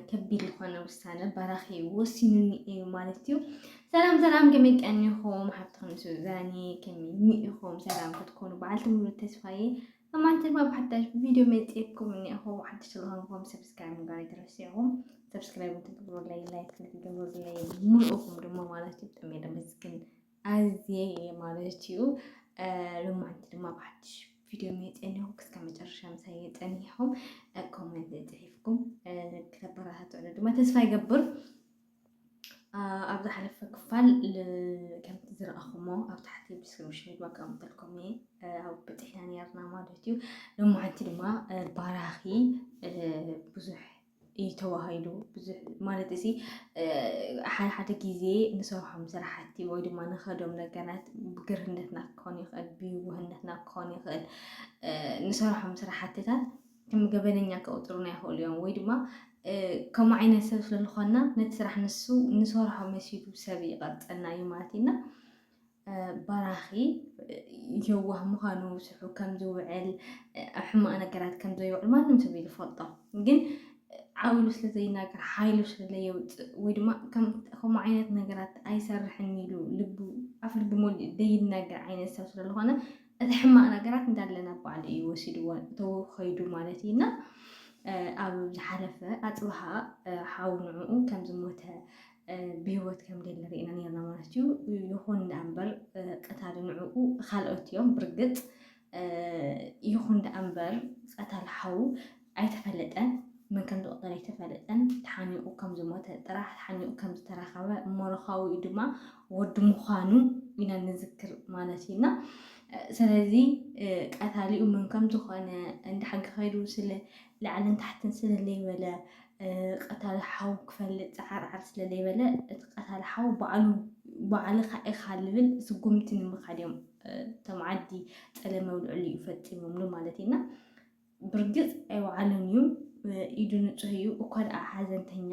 ከቢድ ዝኾነ ውሳነ ባራኺ ወሲኑኒ እዩ ማለት እዩ። ሰላም ሰላም፣ ከመይ ቀኒኹም ሓብትኹም ሱዛኒ ከመይ ኢኹም? ሰላም ክትኮኑ በዓልቲ ሙሉ ተስፋዬ ኣማንቲ ድማ ብሓዳሽ ቪድዮ መፅኤኩም እኒኹ። ሓድሽ ስለሆንኩም ሰብስክራይብ ምግባር ኣይትረስዑም። ሰብስክራይብ ትገብሩለይ፣ ላይክ ትገብሩለይ፣ ሙሉእኹም ድማ ማለት እዩ። ጥሜ ደመስግን ኣዝየ እየ ማለት እዩ ሎማንቲ ድማ ብሓድሽ ቪድዮ መየፀኒኹ ክስከ መጨረሻ ምሳይ የፀኒኹም ኮመንት ፅሒፍኩም ክተበረታትዑ ድማ ተስፋ ይገብር ኣብ ዝሓለፈ ክፋል ከምቲ ዝረኣኹሞ ኣብ ታሕቲ ዲስክሪፕሽን ድማ ከቀምጠልኩም እየ ኣብ በፂሕና ነርና ማለት እዩ ሎማዓንቲ ድማ ባራኺ ብዙሕ እዩ ተዋሂዱ ማለት እዚ ሓደ ሓደ ግዜ ንሰርሖም ስራሕቲ ወይ ድማ ንኸዶም ነገራት ብግርህነትና ክኾን ይኽእል፣ ብይውህነትና ክኾን ይኽእል ንሰርሖም ስራሕትታት ከም ገበነኛ ክቕፅሩና ይኽእሉ እዮም ወይ ድማ ከምኡ ዓይነት ሰብ ስለዝኾንና ነቲ ስራሕ ንሱ ንሰርሖ መሲሉ ሰብ ይቐርፀና እዩ ማለት እዩና በራኺ የዋህ ምዃኑ ስርሑ ከም ዝውዕል ኣብ ሕማቕ ነገራት ከም ዘይውዕል ማንም ሰብ እዩ ዝፈልጦ ግን ዓውሉ ስለ ዘይናገር ሓይሉ ስለ ዘየውፅእ ወይ ድማ ከምኡ ዓይነት ነገራት ኣይሰርሕን ኢሉ ልቡ ኣፍ ልቡ ሞሊኡ ዘይናገር ዓይነት ሰብ ስለዝኾነ እቲ ሕማቕ ነገራት እንዳለ ናብ ባዕሉ እዩ ወሲድዎ ተኸይዱ ማለት እዩ እና ኣብ ዝሓለፈ ኣፅብሃ ሓው ንዕኡ ከም ዝሞተ ብህይወት ከም ደሊ ርኢና ነርና ማለት እዩ። ይኹን ደኣ እምበር ቀታሊ ንዕኡ ካልኦት እዮም ብርግፅ ይኹን ደኣ እምበር ቀታሊ ሓው ኣይተፈለጠን መን ከም ዝቕተል ኣይተፈለጠን ተሓኒቑ ከም ዝሞተ ጥራሕ ተሓኒቑ ከም ዝተረኸበ ሞሮካዊ ድማ ወዲ ምዃኑ ኢና ንዝክር ማለት እዩና ስለዚ ቀታሊኡ መን ከም ዝኾነ እንዳ ሓቂ ከይዱ ስለ ላዕልን ታሕትን ስለ ለይበለ ቀታሊ ሓው ክፈልጥ ጸዓርዓር ስለ ለይበለ እቲ ቀታሊ ሓው ባዕሉ ባዕልኻ ኢኻ ልብል ስጉምቲ ንምኻድ እዮም እቶም ዓዲ ጸለመ ውልዕሉ እዩ ፈጺሞምሉ ማለት እዩና ብርግጽ ኣይወዓሉን እዩ ኢዱ ንጹህ እዩ እኳ ደኣ ሓዘንተኛ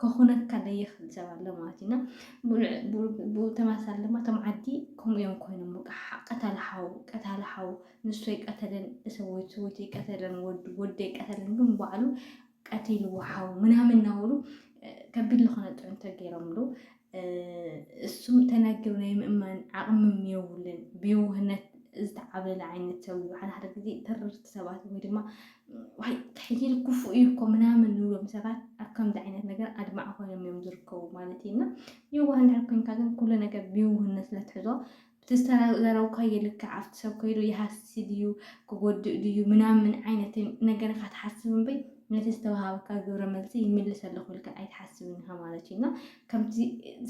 ከኹነካ ደይኽል ሰብ ኣሎ ማለት ኢና ብተመሳሳሊ ድማ እቶም ዓዲ ከምኡ እዮም ኮይኖም በቃ ቀተለ ሓው ቀታለ ሓው ንሱ ኣይቀተለን ሰበይቱ ሰበይቱ ኣይቀተለን ወዱ ወዱ ኣይቀተለን ግን ባዕሉ ቀቲልዎ ሓው ምናምን እናበሉ ከቢድ ዝኾነ ጥዑንቶ ገይሮምሉ እሱ ተናግር ናይ ምእማን ዓቕምም የብሉን ብየውህነት ዝተዓበለ ዓይነት ሰብ እዩ። ሓደ ሓደ ግዜ ተረርቲ ሰባት ወይ ድማ ዋይ ተሕይል ክፉእ እዩ እኮ ምናምን ንብሎም ሰባት ኣብ ከምዚ ዓይነት ነገር ኣድማዕ ኮይኖም እዮም ዝርከቡ ማለት እዩ እና የዋህ እንድሕር ኮይንካ ግን ኩሉ ነገር ብየውህነት ስለትሕዞ እቲ ዝተዘረብካዮ ይልክዕ ኣብቲ ሰብ ከይዱ ይሃስሲ ድዩ ክጎድእ ድዩ ምናምን ዓይነት ነገር ኢኻ ትሓስብ እምበይ ነቲ ዝተውሃበካ ግብረ መልሲ ይምልስ ኣለኹ ኢልካ ኣይትሓስብን ኢኻ ማለት እዩ እና ከምቲ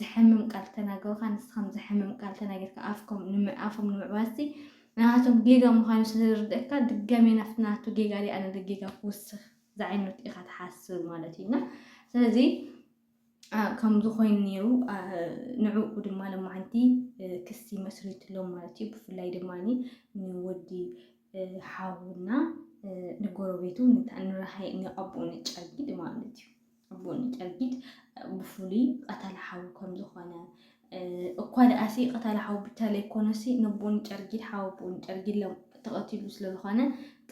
ዘሕምም ቃል ተናገሩካ ንስኻም ዘሕምም ቃል ተናጊርካ ኣፍኮም ኣፎም ንምዕባስቲ ንኣቶም ጌጋ ምዃኑ ስለዝርድእካ ድጋሜ ናፍቲ ናቱ ጌጋ ዲ ኣነ ጌጋ ክውስኽ ዝዓይነቱ ኢኻ ትሓስብ ማለት እዩ እና ስለዚ ከምዚ ኮይኑ ነይሩ ንዕኡ ድማ ለማዓንቲ ክሲ መስሪትሎም ማለት እዩ። ብፍላይ ድማ ንወዲ ሓውና ንጎረቤቱ ንራሃይ ንኣቦኡ ንጨርጊድ ማለት እዩ ኣቦኡ ንጨርጊድ ብፍሉይ ቀተላ ሓው ከም ዝኾነ እኳ ድኣሲ ቀታሊ ሓው ብቻ ለይኮነሲ ነቦኡ ንጨርጊድ ሓው ኣቦኡ ንጨርጊድ ለ ተቐቲሉ ስለዝኾነ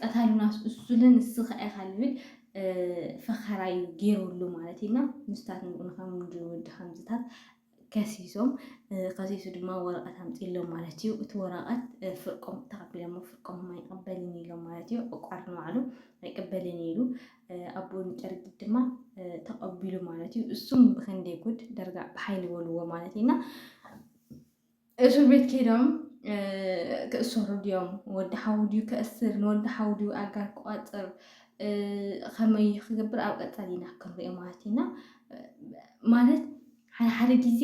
ቀታሉናስ እሱለ ንስኻ ኢኻ ልብል ፈኸራ እዩ ገይሩሉ ማለት እዩ እና ምስታት ንብኡ ንከምድወዲ ከምዝታት ከሲሶም ከሲሱ ድማ ወረቐት ኣምፂሎም ማለት እዩ እቲ ወረቐት ፍርቆም ተቐቢሎሞ ፍርቆም ኣይቅበልን ኢሎም ማለት እዩ ዕቋር ንባዕሉ ኣይቅበልን ኢሉ ኣቦን ጨርጊት ድማ ተቐቢሉ ማለት እዩ። እሱም ብክንደይ ጉድ ደርጋ ብሓይሊ በልዎ ማለት እዩ እና እሱር ቤት ከይዶም ክእሰሩ ድዮም ወዲ ሓው ድዩ ክእስር ንወዲ ሓው ድዩ ኣጋር ክቋፅር ከመይ ክገብር ኣብ ቀፃሊ ኢና ክንሪኦ ማለት ኢና ማለት ሓደ ሓደ ግዜ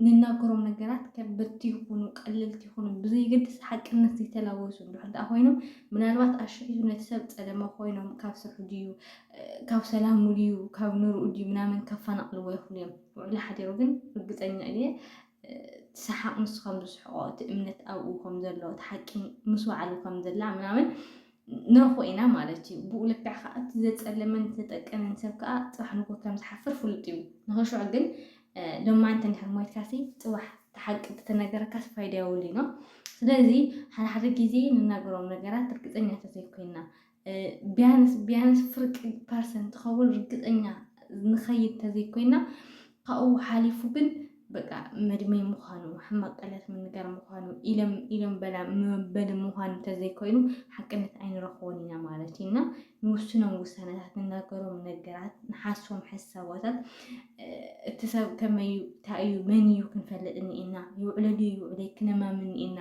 ንናገሮም ነገራት ከበድቲ ይኹኑ ቀለልቲ ይኹኑ ብዘይገድስ ሓቅነት ዘይተላወሱ እንድሕር ደኣ ኮይኖም ምናልባት ኣሽሒቱ ነቲ ሰብ ጸለመ ኮይኖም ካብ ስርሑ ድዩ ካብ ሰላሙ ድዩ ካብ ንርኡ ድዩ ምናምን ከፈናቕልዎ ይኽእሉ እዮም። ውዕሊ ሓዲሩ ግን ርግጸኛ እየ እቲ ሰሓቕ ንሱ ከም ዝስሕቆ እቲ እምነት ኣብኡ ከም ዘሎ እቲ ሓቂ ምስ በዓሉ ከም ዘላ ምናምን ንረኽቦ ኢና ማለት እዩ። ብኡ ልክዕ ከዓ እቲ ዘፀልምን ዘጠቅንን ሰብ ከዓ ፅባሕ ንጎ ከም ዝሓፍር ፍሉጥ እዩ። ንኸሸዑ ግን ሎማንት እንድሕር ሞይትካሲ ፅባሕ ተሓቂ ተተነገረካስ ፋይዳ የብሉይ ነው። ስለዚ ሓደ ሓደ ጊዜ ንናገሮም ነገራት ርግፀኛ ተዘይኮይና ቢያንስ ቢያንስ ፍርቂ ፐርሰንት ትኸውን ርግፀኛ ንኸይድ ተዘይኮይና ካብኡ ሓሊፉ ግን በቃ መድመይ ምዃኑ ሕማቅ ቃላት ምንጋር ምዃኑ ኢለም ኢለም በላ መበሊ ምዃኑ እንተዘይኮይኑ ሓቅነት ኣይንረኽቦን ኢና ማለት እዩ እና ንውስኖም ውሳነታት ንናገሮም ነገራት ንሓሶም ሓሳባታት እቲ ሰብ ከመይ እዩ እንታይ እዩ መን እዩ ክንፈልጥ እኒኤና ይውዕለሉ ይውዕለ ክነማምን እኒኤና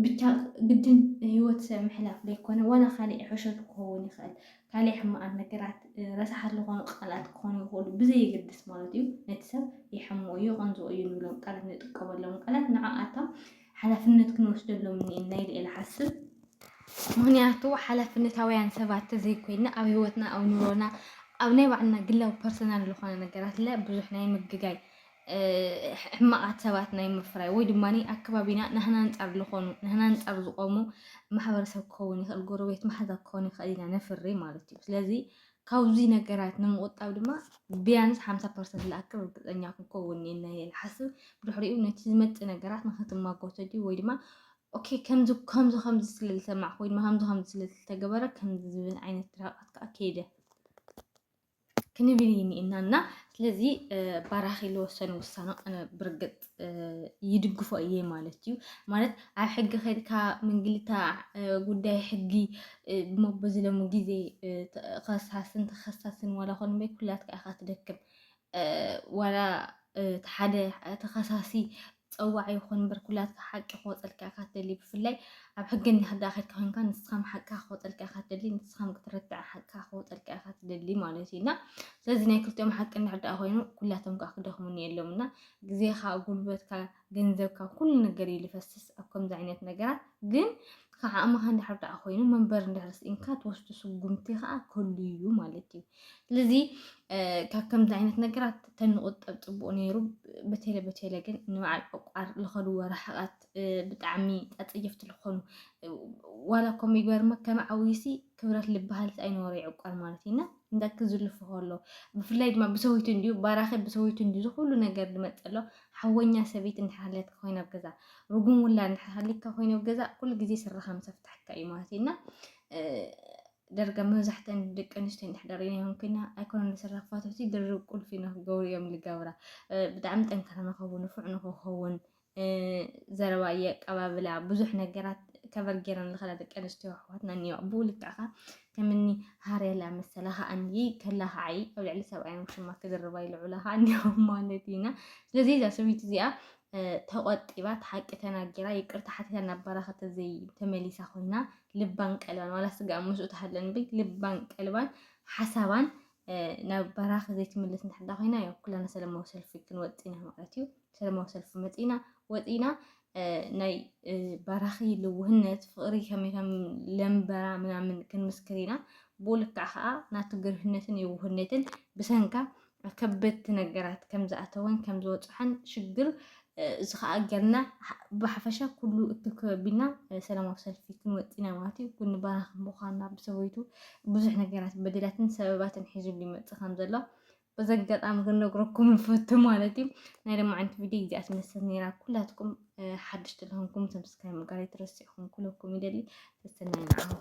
ብቻ ግድን ህይወት ሰብ ምሕላፍ ዘይኮነ ዋላ ካሊእ ሕሸት ክኸውን ይኽእል ካሊእ ሕማቃት ነገራት ረሳሓት ልኾኑ ቃላት ክኾኑ ይኽእሉ ብዘየገድስ ማለት እዩ ነቲ ሰብ የሕምኦ እዩ የቐንዝኦ እዩ ንብሎም ቃላት ንጥቀመሎም ቃላት ንዓኣታ ሓላፍነት ክንወስደሎም እኒኤና ኢለ እየ ልሓስብ ምክንያቱ ሓላፍነታውያን ሰባት ተዘይኮይና ኣብ ህይወትና ኣብ ኑሮና ኣብ ናይ ባዕልና ግላዊ ፐርሰናል ዝኾነ ነገራት ለ ብዙሕ ናይ ምግጋይ ሕማቓት ሰባት ናይ ምፍራይ ወይ ድማ ኣከባቢና ናህና ኣንጻር ልኾኑ ናህና ኣንጻር ዝቖሙ ማሕበረሰብ ክኸውን ይኽእል፣ ጎረቤት ማሓዛ ክኸውን ይኽእል ኢና ነፍሪ ማለት እዩ። ስለዚ ካብዙይ ነገራት ንምቑጣብ ድማ ቢያንስ ሓምሳ ፐርሰንት ልኣክል ርግጸኛ ክንከውን ኔና እየ ልሓስብ። ብድሕሪኡ ነቲ ዝመጽእ ነገራት ንክትማጎቶ ድዩ ወይ ድማ ኦኬ ከምዚ ከምዚ ከምዚ ስለ ዝሰማዕኩ ወይ ድማ ከምዚ ከምዚ ስለ ዝተገበረ ከምዚ ዝብል ዓይነት ድራቃት ከዓ ከይደ ክንብል ይኒእና እና ስለዚ ባራኺ ዝወሰነ ውሳነ ኣነ ብርግፅ ይድግፎ እየ ማለት እዩ። ማለት ኣብ ሕጊ ከድካ ምንግልታ ጉዳይ ሕጊ ሞቦ ዝለሙ ግዜ ከሳስን ተኸሳስን ዋላ ኮን በይ ኩላትካ ኢኻ ትደክም ዋላ ሓደ ተኸሳሲ ጸዋዒ ይኹን እምበር ኩላትካ ሓቂ ክወጸልካ ኢኻ ትደሊ ብፍላይ ኣብ ሕጊ እንዳ ከድካ ኮንካ ንስኻም ሓቅካ ክወጸልካ ኢኻ ትደሊ ንስኻም ክትረትዕ ሓቅካ ክወጸልካ ኢኻ ትደሊ ማለት እዩ እና ስለዚ ናይ ክልቲኦም ሓቂ እንድሕር ደኣ ኮይኑ ኩላቶም ከዓ ክደኽሙን የሎም እና ግዜኻ ጉልበትካ ገንዘብካ ኩሉ ነገር እዩ ዝፈስስ ኣብ ከምዚ ዓይነት ነገራት ግን ከዓእምኻ እንድሕር ደኣ ኮይኑ መንበር እንድሕር ስኢንካ ትወስዱ ስጉምቲ ከዓ ክህሉ እዩ ማለት እዩ ስለዚ ካብ ከምዚ ዓይነት ነገራት ተንቁጠብ ፅቡቅ ነይሩ በቴለ በቴለ ግን ንበዓል ዕቋር ዝኸድዎ ርሕቐት ብጣዕሚ ኣፀየፍቲ ዝኾኑ ዋላ እኮ ምግበር ከም ዓውይሲ ክብረት ልበሃል ኣይነበሮ ይዕቋር ማለት እዩና እንዳክ ዝልፍ ከሎ ብፍላይ ድማ ብሰዊቱ እንዲዩ ባራኸ ብሰዊቱ እንዲዩ ዝኩሉ ነገር ዝመፀሎ ሓወኛ ሰበይቲ እንድሓለት ኮይና ኣብ ገዛ ርጉም ውላ እንድሓሊካ ኮይነ ኣብ ገዛ ኩሉ ግዜ ስራኻ ምሰፍታሕካ እዩ ማለት እዩና ደርጋ መብዛሕተን ደቂ ኣንስትዮ እንድሕደር እዮም ኮይና ኣይኮነን ዝስራሕ ፋቶቲ ድርብ ቁልፊ ንክገብሩ እዮም ዝገብራ ብጣዕሚ ጠንካራ ንኸውን ንፉዕ ንክኸውን ዘረባ የቀባብላ ብዙሕ ነገራት ከበር ገይረን ዝኸዳ ደቂ ኣንስትዮ ኣሕዋትና እኒኦ ብኡ ልክዕ ኸ ከምኒ ሃርያላ መሰላ ከዓ እኒ ከላ ከዓይ ኣብ ልዕሊ ሰብኣዮም ሽማ ክዝርባ ይልዑላ ከዓ እኒኦ ማለት ኢና ስለዚ እዛ ሰበይቲ እዚኣ ተቆጢባ እቲ ሓቂ ተናጊራ ይቅርታ ሓቲታ ናብ በረኸት ተመሊሳ ኮይና ልባን ቀልባን ዋላ ስጋኣን ምስኡ ተሃለን እምበይ ልባን ቀልባን ሓሳባን ናብ በራኺ ዘይትምልስ እንድሕዳ ኮይና ያው ኩላና ሰለማዊ ሰልፊ ክንወፅ ኢና ማለት እዩ። ሰለማዊ ሰልፊ መፂና ወፂና ናይ በራኺ ልውህነት ፍቕሪ ከመይ ከም ለምበራ ምናምን ክንምስክር ኢና። ብኡ ልክዕ ከዓ ናቱ ግርህነትን የውህነትን ብሰንካ ከበድቲ ነገራት ከም ዝኣተወን ከም ዝወፅሐን ሽግር እዚ ከዓ ገርና ብሓፈሻ ኩሉ እትከቢና ሰላማዊ ሰልፊ ክንወፅና ማለት እዩ ኩኒ ባራኽ ምዃንና ብሰበይቱ ብዙሕ ነገራት በደላትን ሰበባትን ሒዙሉ ይመፅእ ከም ዘሎ በዚ ኣጋጣሚ ክንነግረኩም ንፈቱ ማለት እዩ ናይ ደማ ዓይነት ቪድዮ እዚኣ ትመስል ነይራ ኩላትኩም ሓድሽቲ ዝኾንኩም ሰብስክራይብ ምግባር ኣይትረስዑ ክብለኩም ይደሊ ሰሰናይ ንዓኹም